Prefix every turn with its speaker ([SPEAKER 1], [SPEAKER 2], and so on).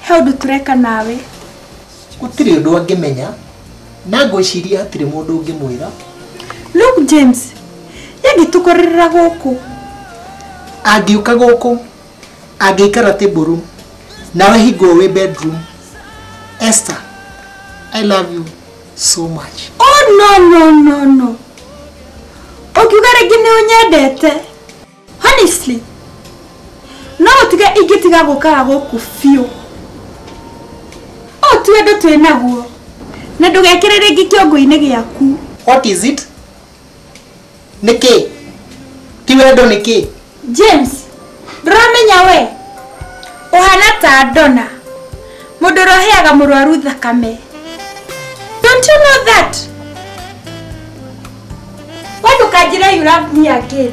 [SPEAKER 1] He ũndũ tũreka nawe. Gũtirĩ ũndũ angĩmenya na ngwĩciria hatirĩ mũndũ ũngĩmwĩra. Look James, yangĩtũkorerera gũkũ. Angĩũka gũkũ, angĩikara table nawe hingo wĩ bedroom. Esther, I love you so much. Oh no no no no. Ũkiuga rĩngĩ nĩ ũnyendete. honestly no ũtige ingĩtiga gũkara gũkũ biũ ũũ ti wendo twĩ naguo na ndũgekĩre rĩngĩ kĩongo-inĩ gĩaku what is it nĩ kĩ ti wendo nĩ kĩ james ndũramenya we ũhana ta ndona mũndũ ũroheaga mũrwaru thakame don't you know that we ndũkanjĩre you love me again